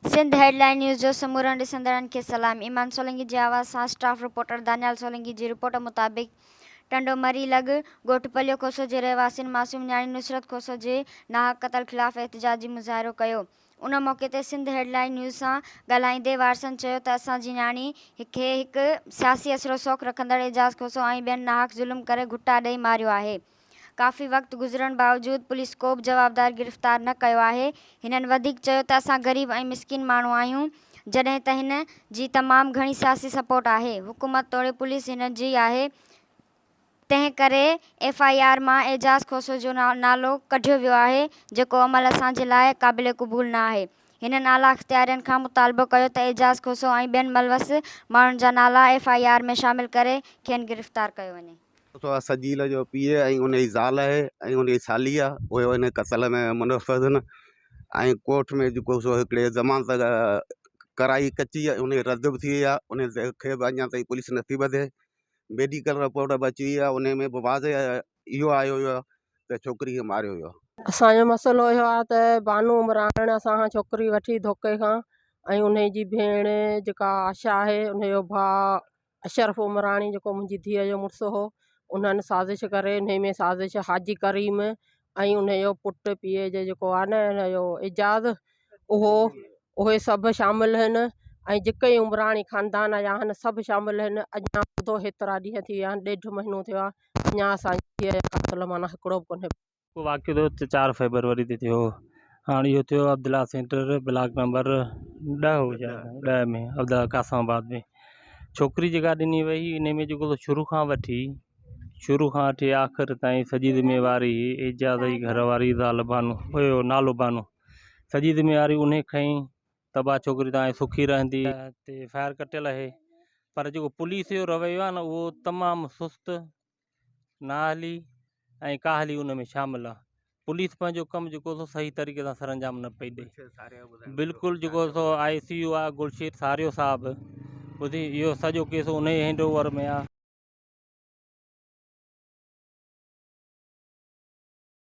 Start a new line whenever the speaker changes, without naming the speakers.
Sindh headline news جو سمورن ڏسندڙن کي سلام ايمان سولنگي جي آواز سان اسٽاف رپورٽر دانيال سولنگي جي رپورٽ مطابق ٽنڊو مري لڳ، ڳوٺ پليو کوسو جي رهواسين معصوم نياڻي نصرت کوسو جي ناحق قتل خلاف احتجاجي مظاهرو ڪيو. ان موقعي تي سنڌ هيڊ لائين نيوز سان ڳالهائيندي وارثن چيو ته اسان جي نياڻي کي هڪ سياسي اثر و سوق رکندڙ اعجاز کوسو ۽ ٻين ناحق ظلم ڪري گهٽا ڏئي ماريو آهي، ڪافي وقت گذرڻ باوجود پوليس ڪوبه جوابدار گرفتار نه ڪيو آهي. هنن وڌيڪ چيو ته اسان غريب ۽ مسڪين ماڻهو آهيون جڏهن ته هن جي تمام گهڻي سياسي سپورٽ آهي حڪومت توڙي پوليس هن جي آهي تنهن ڪري ايف آء آر مان اعجاز کوسو جو نالو ڪڍيو ويو آهي جيڪو عمل اسان جي لاء قابل قبول نه آهي هنن اعليٰ اختيارين کان مطالبو ڪيو ته اعجاز کوسو ۽ ٻين ملوث ماڻهن جا نالا ايف آء آر ۾ شامل ڪري کين گرفتار ڪيو وڃي. اتوار سجيل جو
پيء ۽ ان جي زال آهي ۽ ان جي سالي آهي اهي ان قتل ۾ ملوث آهن ۽ ڪورٽ ۾ جيڪو سو هڪڙي ضمانت ڪرائي ڪچي ۽ ان جي رد به ٿي وئي آهي ان تي کي به اڃا تائين پوليس نٿي ٻڌي ميڊيڪل رپورٽ به اچي وئي آهي ان ۾ به واضع اهو آيو هيو آهي ته ڇوڪري کي ماريو ويو آهي. اسان جو مسئلو
اهو آهي ته بانو عمراڻ اسان کان ڇوڪري وٺي ڌوڪي کان ۽ ان جي ڀيڻ جيڪا آشا آهي ان جو ڀاء اشرف عمراڻي جيڪو منهنجي ڌيء جو مڙس هو انهن سازش ڪري انهي ۾ سازش حاجي ڪريم ۽ انهي جو پٽ پيء جو جيڪو آهي نه ان جو اعجاز اهو اهي سڀ شامل آهن ۽ جيڪي عمراڻي خاندان جا آهن سڀ شامل آهن اڃان ٻڌو هيترا ڏينهن ٿي ويا آهن ڏيڍ مهينو ٿيو آهي اڃان اسانجي ڌيء جو قاتل معنيٰ هڪڙو به ڪونهي اهو واقعو ٿيو ته چار
فيبروري تي ٿيو هاڻ اهو ٿيو عبدالله سينٽر بلاڪ نمبر ڏهه هو شايد ڏهه ۾ عبدالله قاسم آباد ۾ ڇوڪري جيڪا ڏني وئي هي ان ۾ جيڪو شروع کان وٺي شروع کان وٺي آخر تائين سڄي ذميواري اعجاز جي گهر واري زال بانو هيو نالو بانو سڄي ذميواري ان کئين تباهه ڇوڪري تان آئي سکي رهندي تي ايف آء آر ڪٽيل آهي پر جيڪو پوليس جو رويو آهي نه اهو تمام سست نااهلي ۽ ڪاهلي ان ۾ شامل آ پوليس پنهنجو ڪم جيڪو سو صحيح طريقي سان سرانجام نه پئي ڏئي بلڪل جيڪو سو آء سي يو آ گلشيت ساريو صاحب ٻڌي اهو سڄو ڪيس ان ئي هينڊ اوور ۾ آ